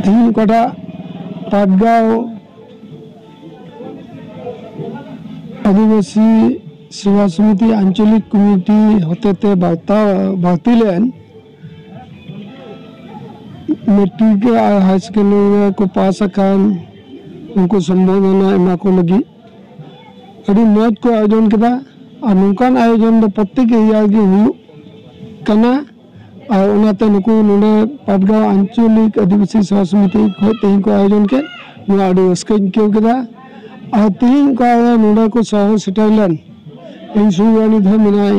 ᱛᱮᱦᱤᱧ ᱚᱠᱟᱴᱟᱜ ᱯᱟᱴᱜᱟᱸᱣ ᱟᱹᱫᱤᱵᱟᱹᱥᱤ ᱥᱮᱵᱟ ᱥᱚᱢᱤᱛᱤ ᱟᱧᱪᱚᱞᱤᱠ ᱠᱚᱢᱤᱴᱤ ᱦᱚᱛᱮᱛᱮ ᱵᱟᱛᱟᱣ ᱵᱟᱹᱛᱤᱞᱮᱱ ᱢᱮᱴᱨᱤᱠ ᱟᱨ ᱦᱟᱭ ᱥᱮᱠᱮᱱᱰᱟᱨᱤ ᱨᱮ ᱠᱚ ᱯᱟᱥ ᱟᱠᱟᱱ ᱩᱱᱠᱩ ᱥᱚᱢᱵᱚᱨᱫᱷᱚᱱᱟ ᱮᱢᱟ ᱠᱚ ᱞᱟᱹᱜᱤᱫ ᱟᱹᱰᱤ ᱢᱚᱡᱽ ᱠᱚ ᱟᱭᱳᱡᱚᱱ ᱠᱮᱫᱟ ᱟᱨ ᱱᱚᱝᱠᱟᱱ ᱟᱭᱳᱡᱚᱱ ᱫᱚ ᱯᱨᱚᱛᱮᱠ ᱮᱨᱤᱭᱟ ᱨᱮᱜᱮ ᱦᱩᱭᱩᱜ ᱠᱟᱱᱟ ᱟᱨ ᱚᱱᱟᱛᱮ ᱱᱩᱠᱩ ᱱᱚᱰᱮ ᱯᱟᱴᱜᱟᱶ ᱟᱧᱪᱚᱞᱤᱠ ᱟᱹᱫᱤᱵᱟᱹᱥᱤ ᱥᱮᱵᱟ ᱥᱚᱢᱤᱛᱤ ᱠᱷᱚᱡ ᱛᱮᱦᱮᱧ ᱠᱚ ᱟᱭᱳᱡᱚᱱ ᱠᱮᱫ ᱱᱚᱣᱟ ᱟᱹᱰᱤ ᱨᱟᱹᱥᱠᱟᱹᱧ ᱟᱹᱭᱠᱟᱹᱣ ᱠᱮᱫᱟ ᱟᱨ ᱛᱮᱦᱮᱧ ᱚᱠᱟᱨᱮ ᱱᱚᱰᱮ ᱠᱚ ᱥᱚᱦᱚᱨ ᱥᱮᱴᱮᱨ ᱞᱮᱱ ᱤᱧ ᱥᱩᱨ ᱨᱮ ᱩᱱᱤ ᱫᱚ ᱢᱮᱱᱟᱭ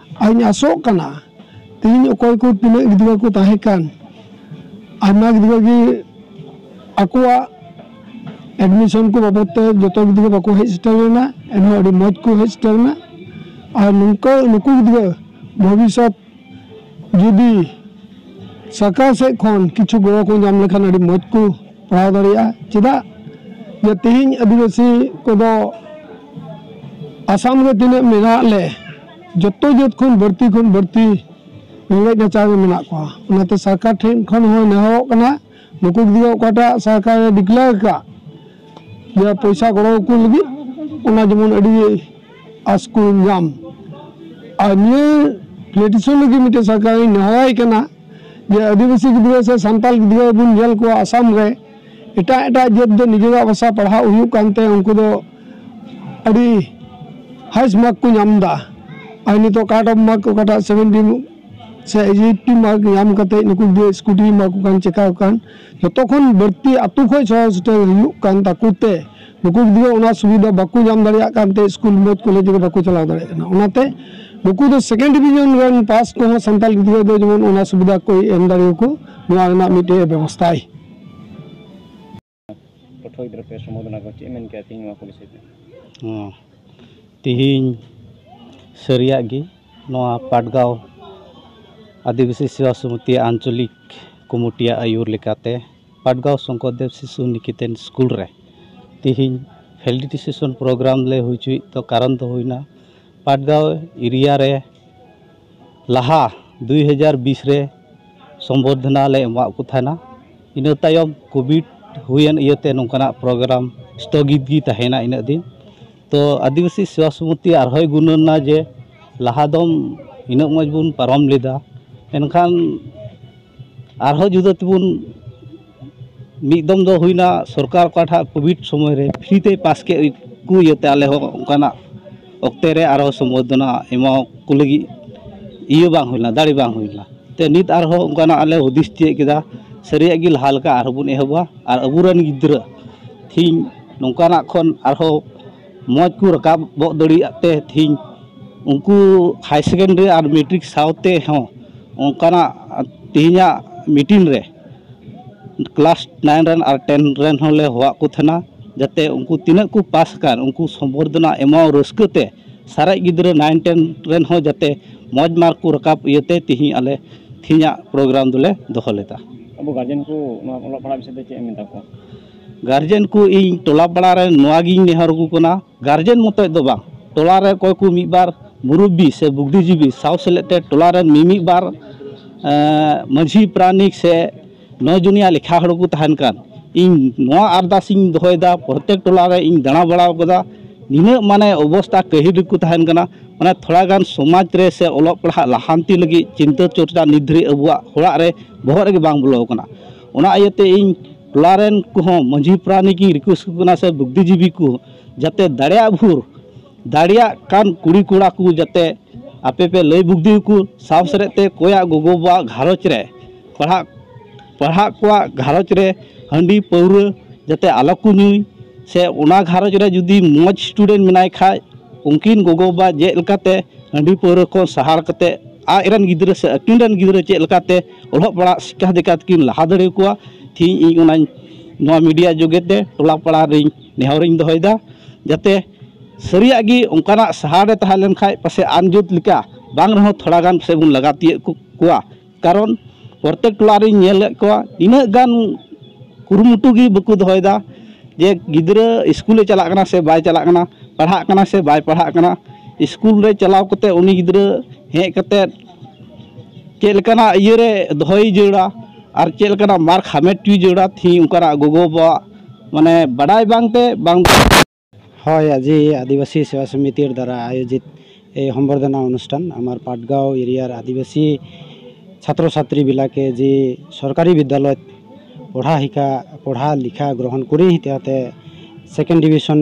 ᱟᱨᱤᱧ ᱟᱥᱚᱜ ᱠᱟᱱᱟ ᱛᱮᱦᱮᱧ ᱚᱠᱚᱭ ᱠᱚ ᱛᱤᱱᱟᱹᱜ ᱜᱤᱫᱽᱨᱟᱹ ᱠᱚ ᱛᱟᱦᱮᱸ ᱠᱟᱱ ᱟᱭᱢᱟ ᱜᱤᱫᱽᱨᱟᱹ ᱜᱮ ᱟᱠᱚᱣᱟᱜ ᱮᱰᱢᱤᱥᱚᱱ ᱠᱚ ᱵᱟᱵᱚᱫ ᱛᱮ ᱡᱚᱛᱚ ᱜᱤᱫᱽᱨᱟᱹ ᱵᱟᱠᱚ ᱦᱮᱡ ᱥᱮᱴᱮᱨ ᱞᱮᱱᱟ ᱮᱱᱦᱚᱸ ᱟᱹᱰᱤ ᱢᱚᱡᱽ ᱠᱚ ᱦᱮᱡ ᱥᱮᱴᱮᱨ ᱮᱱᱟ ᱟᱨ ᱱᱚᱝᱠᱟ ᱱᱩᱠᱩ ᱜᱤᱫᱽᱨᱟᱹ ᱵᱷᱚᱵᱤᱥᱥᱚᱛ ᱡᱩᱫᱤ ᱥᱚᱨᱠᱟᱨ ᱥᱮᱫ ᱠᱷᱚᱱ ᱠᱤᱪᱷᱩ ᱜᱚᱲᱚ ᱠᱚ ᱧᱟᱢ ᱞᱮᱠᱷᱟᱱ ᱟᱹᱰᱤ ᱢᱚᱡᱽ ᱠᱚ ᱯᱟᱲᱦᱟᱣ ᱫᱟᱲᱮᱭᱟᱜᱼᱟ ᱪᱮᱫᱟᱜ ᱡᱮ ᱛᱮᱦᱮᱧ ᱟᱹᱫᱤᱵᱟᱹᱥᱤ ᱠᱚᱫᱚ ᱟᱥᱟᱢ ᱨᱮ ᱛᱤᱱᱟᱹᱜ ᱢᱮᱱᱟᱜ ᱞᱮ ᱡᱚᱛᱚ ᱡᱟᱹᱛ ᱠᱷᱚᱱ ᱵᱟᱹᱲᱛᱤ ᱠᱷᱚᱱ ᱵᱟᱹᱲᱛᱤ ᱨᱮᱸᱜᱮᱡ ᱱᱟᱪᱟᱨ ᱨᱮ ᱢᱮᱱᱟᱜ ᱠᱚᱣᱟ ᱚᱱᱟᱛᱮ ᱥᱚᱨᱠᱟᱨ ᱴᱷᱮᱱ ᱠᱷᱚᱱ ᱦᱚᱸ ᱱᱮᱦᱚᱨᱚᱜ ᱠᱟᱱᱟ ᱱᱩᱠᱩ ᱜᱤᱫᱽᱨᱟᱹ ᱚᱠᱟᱴᱟᱜ ᱥᱚᱨᱠᱟᱨᱮ ᱰᱤᱠᱞᱮᱭᱟᱨ ᱟᱠᱟᱫ ᱡᱮ ᱯᱚᱭᱥᱟ ᱜᱚᱲᱚ ᱟᱠᱚ ᱞᱟᱹᱜᱤᱫ ᱚᱱᱟ ᱡᱮᱢᱚᱱ ᱟᱹᱰᱤ ᱟᱸᱥ ᱠᱚ ᱧᱟᱢ ᱟᱨ ᱱᱤᱭᱟᱹ ᱯᱞᱮᱴᱤᱥᱚᱱ ᱞᱟᱹᱜᱤᱫ ᱢᱤᱫᱴᱮᱱ ᱥᱚᱨᱠᱟᱨᱤᱧ ᱱᱮᱦᱚᱨᱟᱭ ᱠᱟᱱᱟ ᱡᱮ ᱟᱹᱫᱤᱵᱟᱹᱥᱤ ᱜᱤᱫᱽᱨᱟᱹ ᱥᱮ ᱥᱟᱱᱛᱟᱲ ᱜᱤᱫᱽᱨᱟᱹ ᱵᱚᱱ ᱧᱮᱞ ᱠᱚᱣᱟ ᱟᱥᱟᱢ ᱨᱮ ᱮᱴᱟᱜ ᱮᱴᱟᱜ ᱡᱟᱹᱛ ᱫᱚ ᱱᱤᱡᱮᱨᱟᱜ ᱵᱷᱟᱥᱟ ᱯᱟᱲᱦᱟᱜ ᱦᱩᱭᱩᱜ ᱠᱟᱱᱛᱮ ᱩᱱᱠᱩ ᱫᱚ ᱟᱹᱰᱤ ᱦᱟᱭᱮᱥᱴ ᱢᱟᱨᱠ ᱠᱚ ᱧᱟᱢ ᱮᱫᱟ ᱟᱨ ᱱᱤᱛᱚᱜ ᱠᱟᱴ ᱚᱯᱷ ᱢᱟᱨᱠ ᱚᱠᱟᱴᱟᱜ ᱥᱮᱵᱷᱮᱱᱴᱤ ᱥᱮ ᱮᱭᱤᱴᱴᱤ ᱢᱟᱨᱠ ᱧᱟᱢ ᱠᱟᱛᱮᱫ ᱱᱩᱠᱩ ᱜᱤᱫᱽᱨᱟᱹ ᱥᱠᱩᱴᱤ ᱮᱢᱟ ᱠᱚ ᱠᱟᱱ ᱪᱤᱠᱟ ᱠᱚ ᱠᱟᱱ ᱡᱚᱛᱚ ᱠᱷᱚᱱ ᱵᱟᱹᱲᱛᱤ ᱟᱛᱳ ᱠᱷᱚᱱ ᱥᱚᱦᱚᱨ ᱥᱮᱴᱮᱨ ᱦᱩᱭᱩᱜ ᱠᱟᱱ ᱛᱟᱠᱚ ᱛᱮ ᱱᱩᱠᱩ ᱜᱤᱫᱽᱨᱟᱹ ᱚᱱᱟ ᱥᱩᱵᱤᱫᱷᱟ ᱵᱟᱠᱚ ᱧᱟᱢ ᱫᱟᱲᱮᱭᱟᱜ ᱠᱟᱱ ᱛᱮ ᱥᱠᱩᱞ ᱢᱚᱡᱽ ᱠᱚᱞᱮᱡᱽ ᱨᱮ ᱵᱟᱠᱚ ᱪᱟᱞᱟᱣ ᱫᱟᱲᱮᱭᱟᱜ ᱠᱟᱱᱟ ᱚᱱᱟᱛᱮ ᱱᱩᱠᱩ ᱫᱚ ᱥᱮᱠᱮᱱᱰ ᱰᱤᱵᱷᱤᱡᱚᱱ ᱨᱮᱱ ᱯᱟᱥ ᱠᱚᱦᱚᱸ ᱥᱟᱱᱛᱟᱲ ᱜᱤᱫᱽᱨᱟᱹ ᱫᱚ ᱡᱮᱢᱚᱱ ᱚᱱᱟ ᱥᱩᱵᱤᱫᱷᱟ ᱠᱚᱭ ᱮᱢ ᱫᱟᱲᱮᱭᱟᱠᱚ ᱱᱚᱣᱟ ᱨᱮᱱᱟᱜ ᱢᱤᱫᱴᱮᱡ ᱵᱮᱵᱚᱥᱛᱷᱟᱭ ᱯᱟᱹᱴᱷᱩᱣᱟᱹ ᱜᱤᱫᱽᱨᱟᱹ ᱯᱮ ᱥᱚᱢᱵᱳᱫᱷᱚᱱᱟ ᱠᱚ ᱪᱮᱫ ᱢᱮᱱ ᱠᱮᱭᱟ ᱛᱮᱦᱮᱧ ᱱᱚᱣᱟ ᱠᱚ ᱵᱤᱥᱚᱭ ᱛᱮ ᱦᱮᱸ ᱛᱮᱦᱮᱧ ᱥᱟᱹᱨᱤᱭᱟᱜ ᱜᱮ ᱱᱚᱣᱟ ᱯᱟᱴᱜᱟᱶ ᱟᱹᱫᱤᱵᱟᱹᱥᱤ ᱥᱮᱵᱟ ᱥᱚᱢᱤᱛᱤ ᱟᱧᱪᱚᱞᱤᱠ ᱠᱚᱢᱤᱴᱤᱭᱟᱜ ᱟᱹᱭᱩᱨ ᱞᱮᱠᱟᱛᱮ ᱯᱟᱴᱜᱟᱶ ᱥᱚᱝᱠᱚᱨᱫᱮᱵᱽ ᱥᱤᱥᱩ ᱱᱤᱠᱮᱛᱚᱱ ᱥᱠᱩᱞ ᱨᱮ ᱛᱮᱦᱮᱧ ᱯᱷᱮᱞᱰᱤᱴᱤᱥᱮᱥᱚᱱ ᱯᱨᱳᱜᱨᱟᱢ ᱞᱮ ᱦᱩᱭ ᱦᱚᱪᱚᱭᱮᱫ ᱫᱚ ᱠᱟᱨᱚᱱ ᱫᱚ ᱦᱩᱭᱱᱟ ᱯᱟᱴᱜᱟᱶ ᱮᱨᱤᱭᱟ ᱨᱮ ᱞᱟᱦᱟ ᱫᱩᱭ ᱦᱟᱡᱟᱨ ᱵᱤᱥ ᱨᱮ ᱥᱚᱢᱵᱚᱨᱫᱷᱚᱱᱟ ᱞᱮ ᱮᱢᱟᱜ ᱠᱚ ᱛᱟᱦᱮᱱᱟ ᱤᱱᱟᱹ ᱛᱟᱭᱚᱢ ᱠᱳᱵᱷᱤᱰ ᱦᱩᱭᱮᱱ ᱤᱭᱟᱹᱛᱮ ᱱᱚᱝᱠᱟᱱᱟᱜ ᱯᱨᱳᱜᱨᱟᱢ ᱥᱛᱷᱚᱜᱤᱛ ᱜᱮ ᱛᱟᱦᱮᱸᱭᱮᱱᱟ ᱤᱱᱟᱹᱜ ᱫᱤᱱ ᱛᱳ ᱟᱹᱫᱤᱵᱟᱹᱥᱤ ᱥᱮᱵᱟ ᱥᱚᱢᱤᱛᱤ ᱟᱨᱦᱚᱸᱭ ᱜᱩᱱᱟᱹᱱ ᱮᱱᱟ ᱡᱮ ᱞᱟᱦᱟ ᱫᱚ ᱤᱱᱟᱹᱜ ᱢᱚᱡᱽ ᱵᱚᱱ ᱯᱟᱨᱚᱢ ᱞᱮᱫᱟ ᱢᱮᱱᱠᱷᱟᱱ ᱟᱨᱦᱚᱸ ᱡᱩᱫᱟᱹ ᱛᱮᱵᱚᱱ ᱢᱤᱫ ᱫᱚᱢ ᱫᱚ ᱦᱩᱭᱱᱟ ᱥᱚᱨᱠᱟᱨ ᱚᱠᱟᱴᱟᱜ ᱠᱳᱵᱷᱤᱰ ᱥᱚᱢᱚᱭ ᱨᱮ ᱯᱷᱨᱤ ᱛᱮᱭ ᱯᱟᱥ ᱠᱮᱫ ᱠᱚ ᱤᱭᱟᱹᱛᱮ ᱟᱞᱮ ᱦᱚᱸ ᱚᱱᱠᱟᱱᱟᱜ ᱚᱠᱛᱮ ᱨᱮ ᱟᱨᱦᱚᱸ ᱥᱚᱢᱵᱚᱨᱫᱷᱚᱱᱟ ᱮᱢᱟ ᱠᱚ ᱞᱟᱹᱜᱤᱫ ᱤᱭᱟᱹ ᱵᱟᱝ ᱦᱩᱭ ᱞᱮᱱᱟ ᱫᱟᱲᱮ ᱵᱟᱝ ᱦᱩᱭ ᱞᱮᱱᱟ ᱛᱮ ᱱᱤᱛ ᱟᱨᱦᱚᱸ ᱚᱱᱠᱟᱱᱟᱜ ᱟᱞᱮ ᱦᱩᱫᱤᱥ ᱛᱤᱭᱳᱜ ᱠᱮᱫᱟ ᱥᱟᱹᱨᱤᱭᱟᱜ ᱜᱮ ᱞᱟᱦᱟ ᱞᱮᱠᱟ ᱟᱨᱦᱚᱸ ᱵᱚᱱ ᱮᱦᱚᱵᱟ ᱟᱨ ᱟᱵᱚ ᱨᱮᱱ ᱜᱤᱫᱽᱨᱟᱹ ᱛᱮᱦᱤᱧ ᱱᱚᱝᱠᱟᱱᱟᱜ ᱠᱷᱚᱱ ᱟᱨᱦᱚᱸ ᱢᱚᱡᱽ ᱠᱚ ᱨᱟᱠᱟᱵ ᱜᱚᱫ ᱫᱟᱲᱮᱭᱟᱜ ᱛᱮ ᱛᱮᱦᱮᱧ ᱩᱱᱠᱩ ᱦᱟᱭ ᱥᱮᱠᱮᱱᱰᱟᱨᱤ ᱟᱨ ᱢᱮᱴᱨᱤᱠ ᱥᱟᱶᱛᱮ ᱦᱚᱸ ᱚᱱᱠᱟᱱᱟᱜ ᱛᱮᱦᱮᱧᱟᱜ ᱢᱤᱴᱤᱱ ᱨᱮ ᱠᱞᱟᱥ ᱱᱟᱭᱤᱱ ᱨᱮᱱ ᱟᱨ ᱴᱮᱱ ᱨᱮᱱ ᱦᱚᱸᱞᱮ ᱦᱚᱦᱚᱣᱟᱫ ᱠᱚ ᱛᱟᱦᱮᱱᱟ ᱡᱟᱛᱮ ᱩᱱᱠᱩ ᱛᱤᱱᱟᱹᱜ ᱠᱚ ᱯᱟᱥ ᱟᱠᱟᱱ ᱩᱱᱠᱩ ᱥᱚᱢᱵᱚᱨᱫᱷᱚᱱᱟ ᱮᱢᱚᱜ ᱨᱟᱹᱥᱠᱟᱹ ᱛᱮ ᱥᱟᱨᱮᱡ ᱜᱤᱫᱽᱨᱟᱹ ᱱᱟᱭᱤᱱ ᱴᱮᱱ ᱨᱮᱱ ᱦᱚᱸ ᱡᱟᱛᱮ ᱢᱚᱡᱽ ᱢᱟᱨᱠ ᱠᱚ ᱨᱟᱠᱟᱵ ᱤᱭᱟᱹᱛᱮ ᱛᱮᱦᱮᱧ ᱟᱞᱮ ᱛᱮᱦᱮᱧᱟᱜ ᱯᱨᱳᱜᱨᱟᱢ ᱫᱚᱞᱮ ᱫᱚᱦᱚ ᱞᱮᱫᱟ ᱟᱵᱚ ᱜᱟᱨᱡᱮᱱ ᱠᱚ ᱱᱚᱣᱟ ᱚᱞᱚᱜ ᱯᱟᱲᱦᱟᱜ ᱵᱤᱥᱚᱭ ᱛᱮ ᱪᱮᱫ ᱮᱢ ᱢᱮᱛᱟ ᱠᱚᱣᱟ ᱜᱟᱨᱡᱮᱱ ᱠᱚ ᱤᱧ ᱴᱚᱞᱟ ᱯᱟᱲᱟ ᱨᱮ ᱱᱚᱣᱟ ᱜᱤᱧ ᱱᱮᱦᱚᱨ ᱟᱠᱚ ᱠᱟᱱᱟ ᱜᱟᱨᱡᱮᱱ ᱢᱚᱛᱚᱡ ᱫᱚ ᱵᱟᱝ ᱴᱚᱞᱟ ᱨᱮ ᱚᱠᱚᱭ ᱠᱚ ᱢᱤᱫ ᱵᱟᱨ ᱢᱩᱨᱩᱵᱽᱵᱤ ᱥᱮ ᱵᱩᱫᱽᱫᱷᱤ ᱡᱤᱵᱤ ᱥᱟᱶ ᱥᱮᱞᱮᱫ ᱛᱮ ᱴᱚᱞᱟ ᱨᱮᱱ ᱢᱤᱢᱤᱫ ᱵᱟᱨ ᱢᱟᱹᱡᱷᱤ ᱯᱟᱨᱟᱱᱤᱠ ᱥᱮ ᱱᱚ ᱡᱚᱱᱤᱭᱟ ᱞᱮᱠᱷᱟ ᱦᱚᱲ ᱠᱚ ᱛᱟᱦᱮᱱ ᱠᱟᱱ ᱤᱧ ᱱᱚᱣᱟ ᱟᱨᱫᱟᱥ ᱤᱧ ᱫᱚᱦᱚᱭᱮᱫᱟ ᱯᱨᱚᱛᱮᱠ ᱴᱚᱞᱟ ᱨᱮ ᱤᱧ ᱫᱟᱬᱟ ᱵᱟᱲᱟ ᱠᱟᱫᱟ ᱱᱤᱱᱟᱹᱜ ᱢᱟᱱᱮ ᱚᱵᱚᱥᱛᱷᱟ ᱠᱟᱹᱦᱤᱞ ᱨᱮᱠᱚ ᱛᱟᱦᱮᱱ ᱠᱟᱱᱟ ᱢᱟᱱᱮ ᱛᱷᱚᱲᱟ ᱜᱟᱱ ᱥᱚᱢᱟᱡᱽ ᱨᱮ ᱥᱮ ᱚᱞᱚᱜ ᱯᱟᱲᱦᱟᱜ ᱞᱟᱦᱟᱱᱛᱤ ᱞᱟᱹᱜᱤᱫ ᱪᱤᱱᱛᱟᱹ ᱪᱚᱨᱪᱟ ᱱᱤᱛ ᱫᱷᱟᱹᱨᱤᱡ ᱟᱵᱚᱣᱟᱜ ᱚᱲᱟᱜ ᱨᱮ ᱵᱚᱦᱚᱜ ᱨᱮᱜᱮ ᱵᱟᱝ ᱵᱚᱞᱚ ᱠᱟᱱᱟ ᱚᱱᱟ ᱤᱭᱟᱹᱛᱮ ᱤᱧ ᱴᱚᱞᱟ ᱨᱮᱱ ᱠᱚᱦᱚᱸ ᱢᱟᱺᱡᱷᱤ ᱯᱟᱨᱟᱱᱤᱠ ᱤᱧ ᱨᱤᱠᱩᱭᱮᱥᱴ ᱟᱠᱚ ᱠᱟᱱᱟ ᱥᱮ ᱵᱩᱫᱽᱫᱷᱤ ᱡᱤᱵᱤ ᱠᱚ ᱡᱟᱛᱮ ᱫᱟᱲᱮᱭᱟᱜ ᱵᱷᱳᱨ ᱫᱟᱲᱮᱭᱟᱜ ᱠᱟᱱ ᱠᱩᱲᱤ ᱠᱚᱲᱟ ᱠᱚ ᱡᱟᱛᱮ ᱟᱯᱮ ᱯᱮ ᱞᱟᱹᱭ ᱵᱩᱫᱽᱫᱷᱤ ᱟᱠᱚ ᱥᱟᱶ ᱥᱮᱞᱮᱫ ᱛᱮ ᱚᱠᱚᱭᱟᱜ ᱜᱚᱜᱚ ᱵᱟᱵᱟᱣᱟᱜ ᱜᱷᱟᱨᱚᱸᱡᱽ ᱨᱮ ᱯᱟᱲᱦᱟᱜ ᱯᱟᱲᱦᱟᱜ ᱠᱚᱣᱟᱜ ᱜᱷᱟᱨᱚᱸᱡᱽ ᱨᱮ ᱦᱟᱺᱰᱤ ᱯᱟᱹᱣᱨᱟᱹ ᱡᱟᱛᱮ ᱟᱞᱚ ᱠᱚ ᱧᱩᱭ ᱥᱮ ᱚᱱᱟ ᱜᱷᱟᱨᱚᱸᱡᱽ ᱨᱮ ᱡᱩᱫᱤ ᱢᱚᱡᱽ ᱥᱴᱩᱰᱮᱱᱴ ᱢᱮᱱᱟᱭ ᱠᱷᱟᱡ ᱩᱱᱠᱤᱱ ᱜᱚᱜᱚ ᱵᱟᱵᱟ ᱪᱮᱫ ᱞᱮᱠᱟᱛᱮ ᱦᱟᱺᱰᱤ ᱯᱟᱹᱣᱨᱟᱹ ᱠᱷᱚᱱ ᱥᱟᱦᱟ ᱠᱟᱛᱮᱫ ᱟᱡ ᱨᱮᱱ ᱜᱤᱫᱽᱨᱟᱹ ᱥᱮ ᱟᱹᱠᱤᱱ ᱨᱮᱱ ᱜᱤᱫᱽᱨᱟᱹ ᱪᱮᱫ ᱞᱮᱠᱟᱛᱮ ᱚᱞᱚᱜ ᱯᱟᱲᱦᱟᱜ ᱥᱤᱠᱠᱷᱟ ᱫᱤᱠᱠᱷᱟ ᱛᱮᱠᱤᱱ ᱞᱟᱦᱟ ᱫᱟᱲᱮ ᱠᱚᱣᱟ ᱛᱮᱦᱮᱧ ᱤᱧ ᱚᱱᱟᱧ ᱱᱚᱣᱟ ᱢᱤᱰᱤᱭᱟ ᱡᱳᱜᱮ ᱛᱮ ᱴᱚᱞᱟ ᱯᱟᱲᱟ ᱨᱤᱧ ᱱᱮᱦᱚᱨ ᱤᱧ ᱫᱚᱦᱚᱭᱮᱫᱟ ᱡᱟᱛᱮ ᱥᱟᱹᱨᱤᱭᱟᱜ ᱜᱮ ᱚᱱᱠᱟᱱᱟᱜ ᱥᱟᱦᱟᱨ ᱨᱮ ᱛᱟᱦᱮᱸ ᱞᱮᱱᱠᱷᱟᱡ ᱯᱟᱥᱮᱡ ᱟᱢ ᱡᱟᱹᱛ ᱞᱮᱠᱟ ᱵᱟᱝ ᱨᱮᱦᱚᱸ ᱛᱷᱚᱲᱟ ᱜᱟᱱ ᱯᱟᱥᱮᱡ ᱵᱚᱱ ᱞᱟᱜᱟ ᱛᱤᱭᱳᱜ ᱠᱚᱣᱟ ᱠᱟᱨᱚᱱ ᱯᱨᱚᱛᱮᱠ ᱴᱚᱞᱟ ᱨᱤᱧ ᱧᱮᱞᱮᱫ ᱠᱚᱣᱟ ᱤᱱᱟᱹᱜ ᱜᱟᱱ ᱠᱩᱨᱩᱢᱩᱴᱩ ᱜᱮ ᱵᱟᱠᱚ ᱫᱚᱦᱚᱭᱮᱫᱟ ᱡᱮ ᱜᱤᱫᱽᱨᱟᱹ ᱤᱥᱠᱩᱞᱮ ᱪᱟᱞᱟᱜ ᱠᱟᱱᱟ ᱥᱮ ᱵᱟᱭ ᱪᱟᱞᱟᱜ ᱠᱟᱱᱟ ᱯᱟᱲᱦᱟᱜ ᱠᱟᱱᱟᱭ ᱥᱮ ᱵᱟᱭ ᱯᱟᱲᱦᱟᱜ ᱠᱟᱱᱟ ᱤᱥᱠᱩᱞ ᱨᱮ ᱪᱟᱞᱟᱣ ᱠᱟᱛᱮᱫ ᱩᱱᱤ ᱜᱤᱫᱽᱨᱟᱹ ᱦᱮᱡ ᱠᱟᱛᱮᱫ ᱪᱮᱫ ᱞᱮᱠᱟᱱᱟᱜ ᱤᱭᱟᱹ ᱨᱮ ᱫᱚᱦᱚᱭᱮ ᱡᱟᱹᱨᱩᱲᱟ ᱟᱨ ᱪᱮᱫ ᱞᱮᱠᱟᱱᱟᱜ ᱢᱟᱨᱠᱥ ᱦᱟᱢᱮᱴ ᱦᱚᱪᱚᱭᱮ ᱡᱟᱹᱨᱩᱲᱟ ᱛᱮᱦᱤᱧ ᱚᱱᱠᱟᱱᱟᱜ ᱜᱚᱜᱚᱼᱵᱟᱵᱟᱣᱟᱜ ᱢᱟᱱᱮ ᱵᱟᱰᱟᱭ ᱵᱟᱝ ᱛᱮ ᱵᱟᱝ ᱦᱳᱭ ᱟᱡᱤ ᱟᱹᱫᱤᱵᱟᱹᱥᱤ ᱥᱮᱵᱟ ᱥᱚᱢᱤᱛᱤ ᱫᱟᱨᱟᱭ ᱟᱭᱳᱡᱤᱛ ᱮ ᱦᱚᱢᱵᱚᱨᱫᱷᱚᱱᱟ ᱚᱱᱩᱥᱴᱷᱟᱱ ᱟᱢᱟᱨ ᱯᱟᱴᱜᱟᱶ ᱮᱨᱤᱭᱟ ᱨᱮ ᱟᱹᱫᱤᱵᱟᱹᱥᱤ ᱪᱷᱟᱛᱨᱚ ᱪᱷᱟᱛᱨᱤ ᱵᱤᱞᱟ ᱠᱮ ᱡᱤ ᱥᱚᱨᱠᱟᱨᱤ ᱵᱤᱫᱽᱫᱟᱞᱚᱭ ᱯᱚᱲᱦᱟ ᱦᱤᱠᱟ ᱯᱚᱲᱦᱟ ᱞᱤᱠᱷᱟ ᱜᱨᱚᱦᱚᱱ ᱠᱚᱨᱤ ᱦᱤᱛᱮ ᱦᱟᱛᱮ ᱥᱮᱠᱮᱱᱰ ᱰᱤᱵᱷᱤᱥᱚᱱ